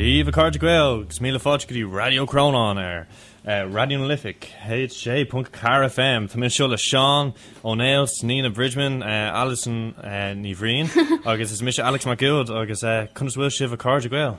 Dia daoibh a chairde Gael, agus míle fáilte go dtí Raidió Crónáin ar eh, Raidió na Life, hj.carfm. Tá mé anseo le Seán Ó Néill, Nina Bridgman, eh, Alison eh, Ní Bhriain, agus is mise Alex Mac Uad, agus eh, conas a bhfuil sibh a chairde Gael?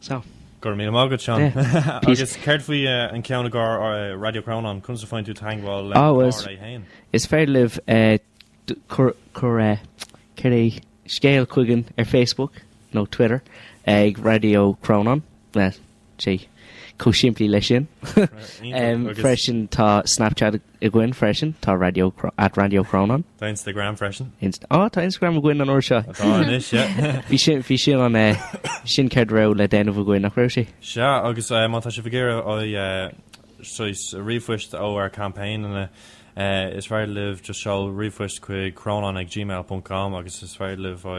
So. Go raibh míle maith agat Seán. Agus céard faoi an ceann i gcomhair Raidió Crónáin, conas a fhaigheann tú teagmháil le RA féin? Is féidir libh cur cur céard é scéal chugainn ar Facebook nó Twitter ag Raidió Crónáin. sé chomh simplí leis sin. Freisin tá Snapchat againn freisin, tá Radio at Radio Crónáin. Tá Instagram freisin. Á tá Instagram againn an uair seo. Tá anois, yeah. Bhí sin bhí sin an eh, sin ceird a raibh le déanamh againn nach raibh sé. Sea, agus eh, má tá sibh ag iarraidh ó ríomhphoist ó ar campaign ina eh, is féidir libh just seol ríomhphost chuig crónán ag gmail.com agus is féidir libh ó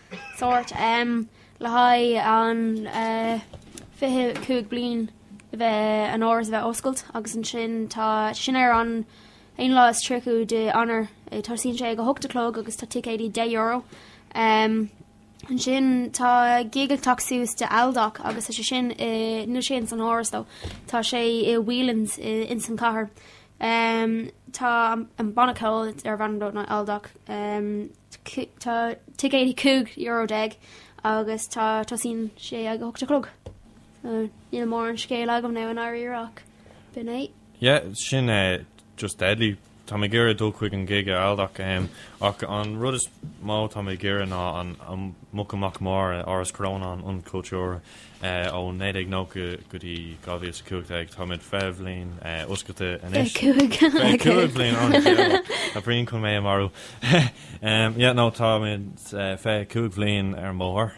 sóirt le haghaidh an 25 bliain a bheith an áras a bheith oscailt agus ansin tá sin ar an 1 lá is 30 de Eanáir tosaíonn sé ag a hocht a chlog agus tá ticéidí deich euro ansin tá gig ag teacht suas de Aldoc agus tá sé sin i níl sé ins an áras though tá sé i Whelan's ins an chathair tá an banna ceoil darb ainm Aldoc. Tá ticéid €5 déag agus tá tosaíonn sé ag 8 a chlog. Níl mórán scéal agam i ndáiríre ach b'in é. Yeah, sin é, just deadly. Tá mé ag iarraidh dul chuig an gig ag Aldoc ehm, ach an rud is mó tá mé ag iarraidh ná an mag amach mar, Áras Chrónáin, Ionad Cultúir. Ó 1990 go dtí 2015 táimid fiche bliain oscailte anois. Fiche cúig bhliain anois. Tá Brian chun mé a mharú. Yeah nó táimid fiche cúig bhliain ar an mbóthar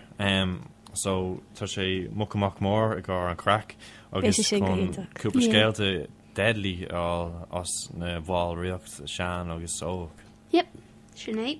so tá sé mag amach mór i gcomhair an chraic agus chun cúpla scéalta deadly a fháil as na bhallraíocht sean agus óg. Yep, sin é.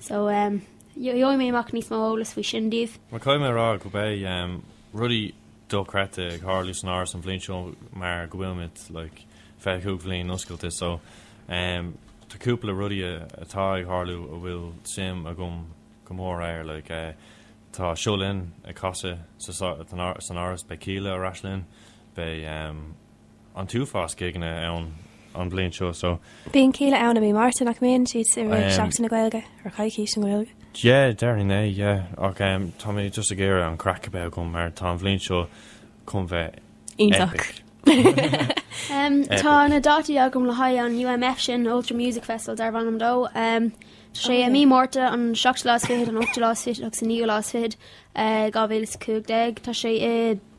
So, gheobhaidh mé amach níos mó eolas faoi sin daoibh. Mar caithfidh mé a rá go mbeidh rudaí dochreidte ag tharlú san áras an bhliain seo mar go bhfuilimid like 25 bhliain oscailte so tá cúpla rudaí atá ag tharlú a bhfuil suim agam go mór air like tá Seo Linn ag casadh san áras beidh Kíla ar ais linn beidh an t-uafás céadna ann an bhliain seo so. Bíonn féile ann i mí Márta, nach mbíonn siad i rith Seachtain na Gaeilge nó Coicís na Gaeilge? Yeah, déarfainn é, yeah, ach tá mé just ag iarraidh an craic a bheith agam mar tá an bhliain seo chun bheith iontach. Tá na dátaí agam le haghaidh an UMF sin, an Ultra Music Festival darb ainm dó. Tá sé i mí Márta, an seachtú lá is fichead, an ochtú lá is fichead agus an naoú lá is fichead dhá mhíle is cúig déag. Tá sé i.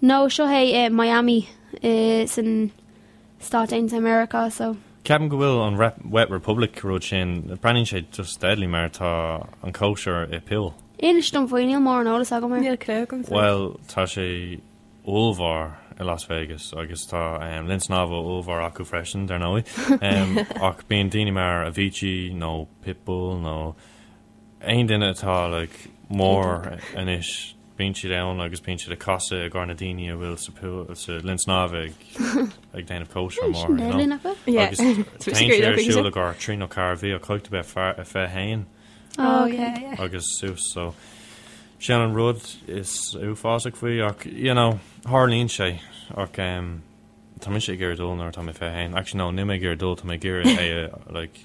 No, seo é i Miami insan Stáit Aontaithe Meiriceá, so. Ceapaim go bhfuil an Wet Republic rud sin, breathnaíonn sé just deadly mar tá an cóisir i pool. Inis dom faoi, níl mórán eolas agam air. Níl clú agam faoi. Bhuel, tá sé ollmhór i Las Vegas agus tá linn snámha ollmhór acu freisin, dar ndóigh, ach bíonn daoine mar Avicii nó Pitbull nó. Aon duine atá ollmhór anois, bíonn siad ann agus bíonn siad ag casadh i gcomhair na daoine a bhfuil sa linn snámh ag déanamh cóisir mór, you know, agus téann siad ar siúl i gcomhair trí nó ceathair mhí, ach caithfidh tú bheith fiche haon agus suas, so sin an rud is uafásach faoi ach, you know, tharlaíonn sé ach tá mise ag iarraidh dul nuair atá mé fiche haon, actually no, níl mé ag iarraidh dul, tá mé ag iarraidh é a, like,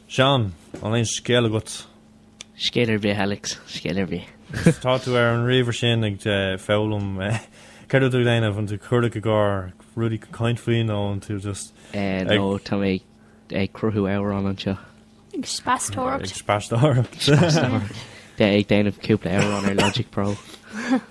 Seán, aon scéal agat? Scéal ar bith, Alex, scéal ar bith. Tá tú ar an ríomhaire sin ag foghlaim. Céard atá tú ag déanamh? An tú cuardach i gcomhair rudaí le caint faoi nó an tú just ag. Nó tá mé ag cruthú amhrán anseo. Ag speastóireacht. Ag speastóireacht. Speastóireacht. Bheith ag déanamh cúpla amhrán ar Logic Pro.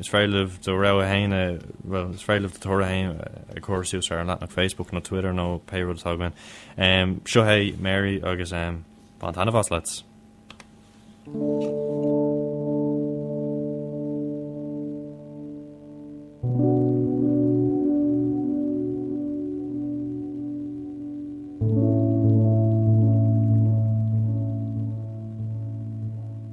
Is féidir libh do rogha fhéin a, bhuel, is féidir libh do toradh fhéin a chur suas ar an leathanach Facebook nó Twitter nó pé rud atá againn. Um, seo é Mary agus um, bain taitneamh as lads.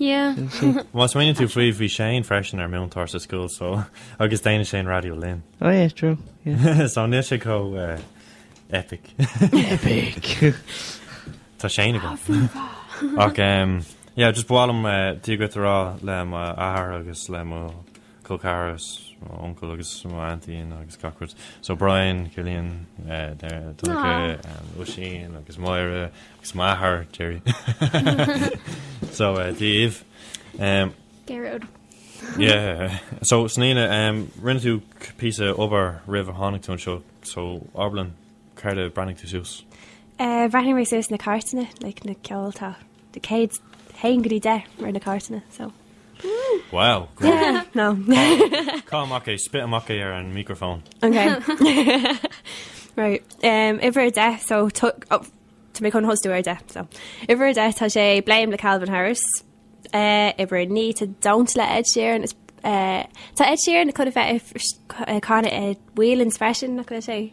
Yeah. Má smaoiníonn tú faoi, bhí Shane freisin ár múinteoir sa scoil so agus déanann Shane raidió linn. Oh yeah, true, yeah. so níl sé chomh epic. epic! Tá Shane agam. Ach, yeah, just ba mhaith liom, dia duit a rá le m'athair agus le mo col ceathrar, mo uncail agus mo aintín agus gach rud. So Brian, Cillian, Donncha, Oisín agus Máire agus m'athair Gerry. So dia daoibh. Gearóid. Yeah. So Snaína, rinne tú píosa obair roimh ar tháinig tú anseo, so abair linn céard a breathnaigh tú suas? Bhreathnaigh mé suas na cairteanna, like na ceol tá. an chéad haon go dtí deich mar na cairteanna so. Wow, great. Yeah, no. Caith amach é, spit amach é ar an micreafón. Okay. Right. Um, uimhir a deich, so tu- oh, tá mé chun tosú ar deich, so. Uimhir a deich, tá sé Blame le Calvin Harris. Uh, uimhir a naoi, tá Don't le Ed Sheeran. It's, uh, tá Ed Sheeran chun a bheith ar- ar- canadh ar Whelan's freisin, nach bhfuil sé?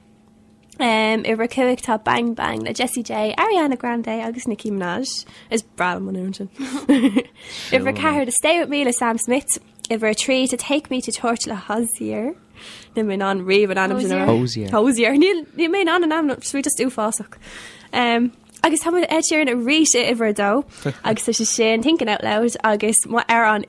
Um, uimhir a cúig tá Bang Bang le Jessie J, Ariana Grande agus Nicki Minaj. Is breá an t-amhrán sin. uimhir a ceathair tá Stay With Me le Sam Smith, uimhir a trí tá Take Me to Church le Hozier. Níl mé in ann riamh an ainm sin. Hozier. Hozier. Níl mé in ann an ainm sweet just uafásach. Um, agus tá Ed Sheeran arís i uimhir dó agus tá sé sin thinking out loud agus má ar an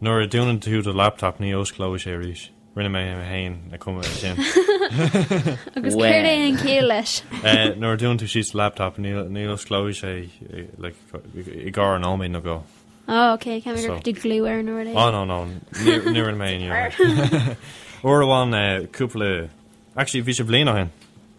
Nuair a dúnann tú do laptop ní osclóidh sé arís. Rinne mé mé féin a chumadh é sin. Agus céard é an chiall leis? Nuair a dúnann tú síos do laptop ní osclóidh sé like i gcomhair an nóiméid nó dhó. Ó ok, ceann gur cuirtí glue ar an ord é. Ó no no, níor rinne mé aon ní uair. Uair amháin cúpla actually bhí sé bliain ó shin.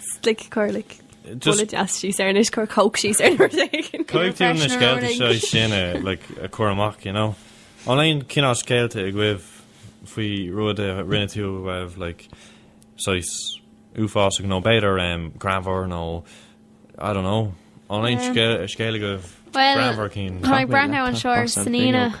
Slick cur like Just deas síos ar anois cur coke síos ar rud éigin. Caithfidh tú na scéalta seo sin a chur amach, you know? An bhfuil aon cineál scéalta agaibh faoi rud a rinne tú a raibh like saghas uafásach nó b'fhéidir um, greannmhar nó I don't know. An bhfuil aon scéal agaibh greannmhar cinn? Tá mé ag breathnú anseo ar sníonadh.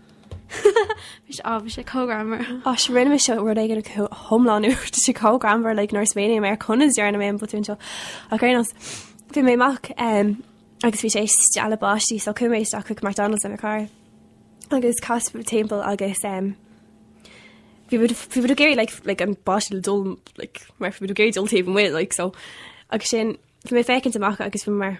Mise ámh, sé chomh greannmhar. Áis, rinne mise rud éigin go hiomlán, tá sé chomh greannmhar, like, nuair a smaoiním ar conas a dhearna mé an botún seo. Ach anyways, bhí mé amach, em, agus bhí sé ag stealladh báistí, so chuaigh mé isteach chuig McDonald's le mo chara agus chas muid timpeall agus, em, bhí muid, bhí muid ag iarraidh, like, like, an báiste le dul, like, mar bhí muid ag iarraidh dul taobh amuigh, like, so, agus ansin, bhí mé ag féachaint amach agus bhí mé mar.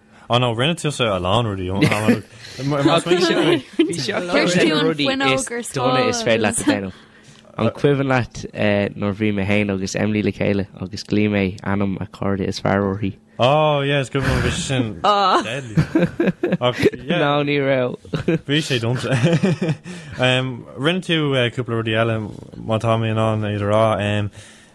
Oh no, rinne tusa a lán rudaí ón am. Dona is féidir leat déanamh. An cuimhin leat eh, nuair a bhí mé héin agus Emily le chéile agus ghlaoigh mé ainm a cairde is fearr uirthi. Oh, yeah, it's good one, bhí sin ah. deadly. Ná ní ra. Bhí sé dom. Rinne tú eh, cúpla rudaí eile má tá mé in ann é a rá.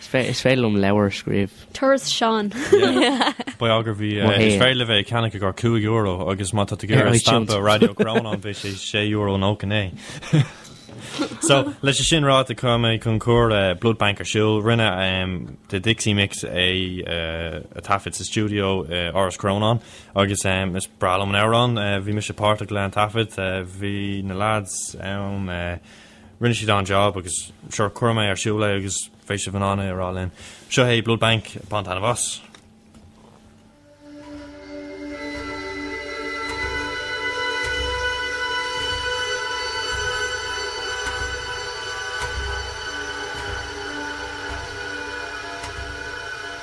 Is féidir liom leabhar a scríobh. Turas Seán. Ba ea gur bhí. Is féidir libh é a cheannach ar €5 agus má tá tú ag iarraidh stampa Raidió Chrónáin beidh sé €6.99. So, leis an sin ráite chuir mé Concours Blood Bank ar siúl. Rinne The Dixie Mix é a thaifead sa stiúideo i Áras Chrónáin agus is breá liom an amhrán. Bhí mise páirteach leis an taifead. Bhí na lads ann. Rinne siad an-jab agus sure chuirfidh mé ar siúl é agus beidh sibh in ann é a rá linn. Seo é Blood Bank bain taitneamh as.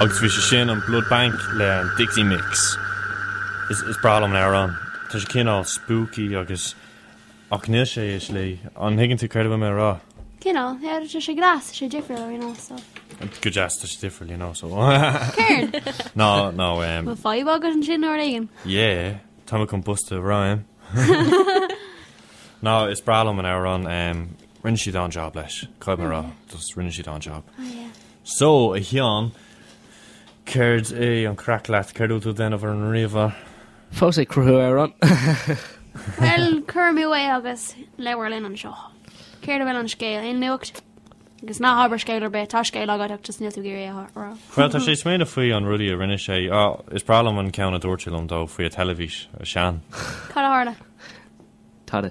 Agus bhí sé sin an Blood Bank le an Dixie Mix. Is breá liom an amhrán. Tá sé cineál spooky agus, ach níl sé i slí. An dtuigeann tú céard a bhfuil mé ag rá? Cineál, yeah, tá sé deas, tá sé difriúil, you know, so. Go deas, tá sé difriúil, you know, so. Céard? Ná, ná, eh. Bhfuil fadhb agat ansin uair éigin? Yeah. Tá mé chun busta roim. Ná is breá liom an amhrán um, rinne siad an job leis. Caithfidh mé a rá, just rinne siad an job. So, a Sheáin, céard é an craic leat? Céard a bhfuil tú ag déanamh ar an ríomhaire? Fós ag cruthú amhrán. Bhuel, cuir amú é agus labhair linn anseo. Céard a bhfuil an scéal? Aon nuacht? Agus ná habair scéal ar bith, tá scéal agat ach just níl tú ag iarraidh é a rá. Bhuel, tá sé ag smaoineamh faoi an rudaí a rinne sé. Á, is breá liom an ceann a dúirt sé liom dó faoi an teilifís, a Seán. Cad a tharla? Tada.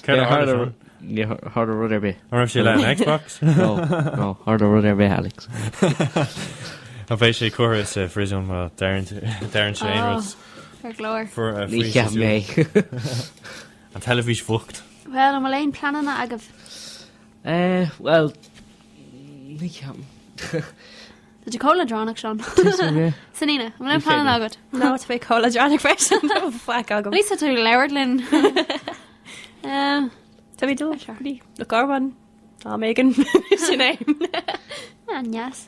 Cad a tharla, Seán? Ní tharla rud ar bith. An raibh sé le an Xbox? Nó, níor tharla rud ar bith, Alex. An bheidh sé curtha sa phriosún má deireann sé aon rud? Ar ndóigh. Ní cheapaim é. An teilifís bhocht. Bhuel, an bhfuil aon pleananna agaibh? Eh, bhuel, ní ceapaim. Tá tú chomh leadránach, Seán. So Aoife, an bhfuil aon pleananna agat? Ná, tá mé chomh leadránach freisin, tá faic agam. Níl tú ag labhairt linn. Eh, Tá mé ag dul, ní, le carbhán, tá mé sin é. An-dheas.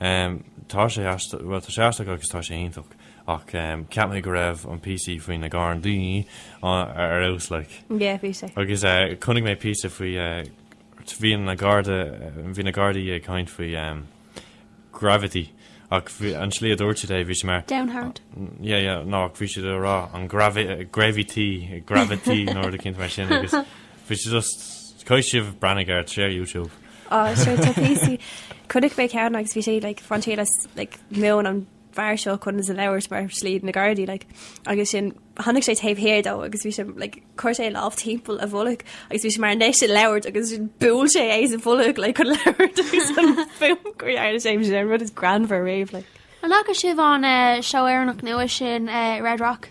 Tá sé aisteach agus tá sé iontach ach ceap mé go raibh an píosaí faoi na Gardaí ar fheabhas like. Yeah bhí sé. Agus chonaic mé píosa faoi bhí na garda bhí na gardaí ag caint faoi graffiti ach an tslí a dúirt siad é bhí sé mar Down hard. Yeah yeah ná ach bhí siad ag rá an graffiti graffiti nó rud éicint mar sin agus Bhí sé just, Caithfidh sibh breathnú air ar YouTube. Á, sure tá píosaí, chonaic mé ceann agus bhí sé like fán taobh le like múin an bhfear seo conas a labhairt mar slí na Gardaí like agus sin tháinig sé taobh thiar dó agus bhí sé like chuir sé a lámh timpeall a bholg agus bhí sé mar anois ag labhairt agus sin buail sé é sa bholg like chun labhairt agus an fuaim go dhearna sé sin an rud is greannmhar riamh like. An fhaca sibh an eh, seó Éireannach nua sin eh, Red Rock?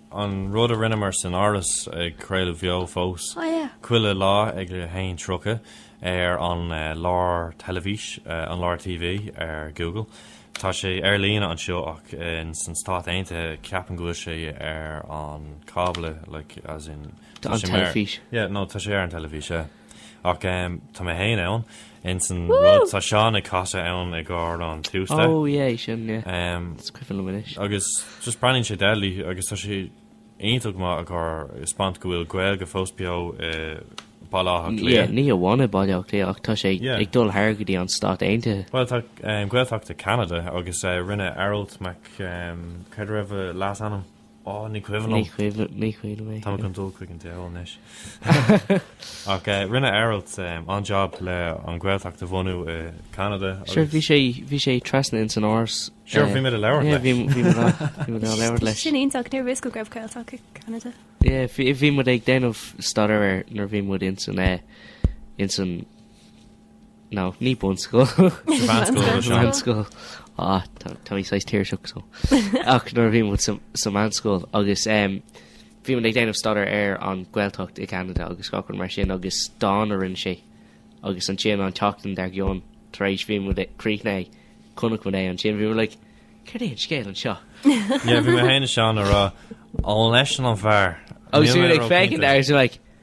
An rud a rinneamar san Áras ag craoladh beo fós chuile lá ag 1:30 ar an Lár Teilifís, an Lár TV ar Google. Tá sé ar líne anseo ach in san Stáit Aontaithe ceapaim go bhfuil sé ar an cábla like as in tá sé mar yeah no tá sé ar an teilifís yeah. Ach tá mé féin ann ins an rud. Tá Seán ag casadh ann i gcomhair an Tuesday. Oh yeah, sin yeah. Is cuimhin liom anois. Agus just breathnaíonn sé deadly agus tá sé iontach maith i gcomhair a spáint go bhfuil Gaeilge fós beo i Baile Átha Cliath. Yeah, ní hamháin i Baile Átha Cliath ach tá sé ag dul thar go dtí an Stát Aontaithe. Bhuel tá Gaeltacht i gCeanada agus rinne Aralt Mac, cad a raibh a leas-ainm? Ó, ní chuimhin liom. Ní chuimhin, ní chuimhin mé. Táim chun dul chuig an diabhal anois. Ach rinne Aralt an-jab le an Ghaeltacht a bhunú i gCanada agus. Sure, bhí sé, bhí sé trasna ins an Áras. Sure, bhí mé le labhairt leis. Yeah, bhí, bhí mé le, bhí mé le labhairt leis. Sin iontach, ní raibh fhios go raibh Gaeltacht i gCanada. Yeah, bhí, bhí muid ag déanamh staidéar air nuair bhí muid ins an, eh, ins an. No, ní bunscoil. Sa mheánscoil atá seo. Meánscoil. Ah, tá tá mé saghas tuirseach so. Ach nuair a bhí muid sa sa meánscoil agus em, bhí muid ag déanamh staidéar ar an Ghaeltacht i gCeanada agus gach rud mar sin agus dán a rinne sé agus ansin an tseachtain dár gcionn tar éis bhí muid ag críochnaigh é chonaic muid é ansin bhí muid like céard é an scéal anseo? Yeah, bhí mé féin ansin ag rá, Ó, an eisean an fear. Níl mé róchinnte. Agus bhí muid ag féachaint air agus bhí muid like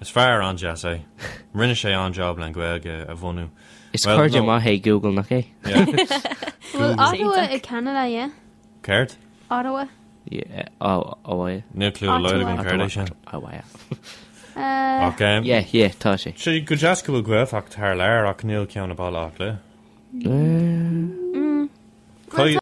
Is fear an-deas é. Rinne sé an-job le an Gaeilge a bhunú. Is cairde maith é Google nach é? Bhfuil Ottawa i Ceanada, yeah? Céard? Ottawa. Ottawa. Níl clue dá laghad agam céard é sin. Ottawa. Ok. Yeah, yeah, tá sé. Sé go deas go bhfuil Gaeltacht thar lear ach níl ceann i mBaile Átha Cliath.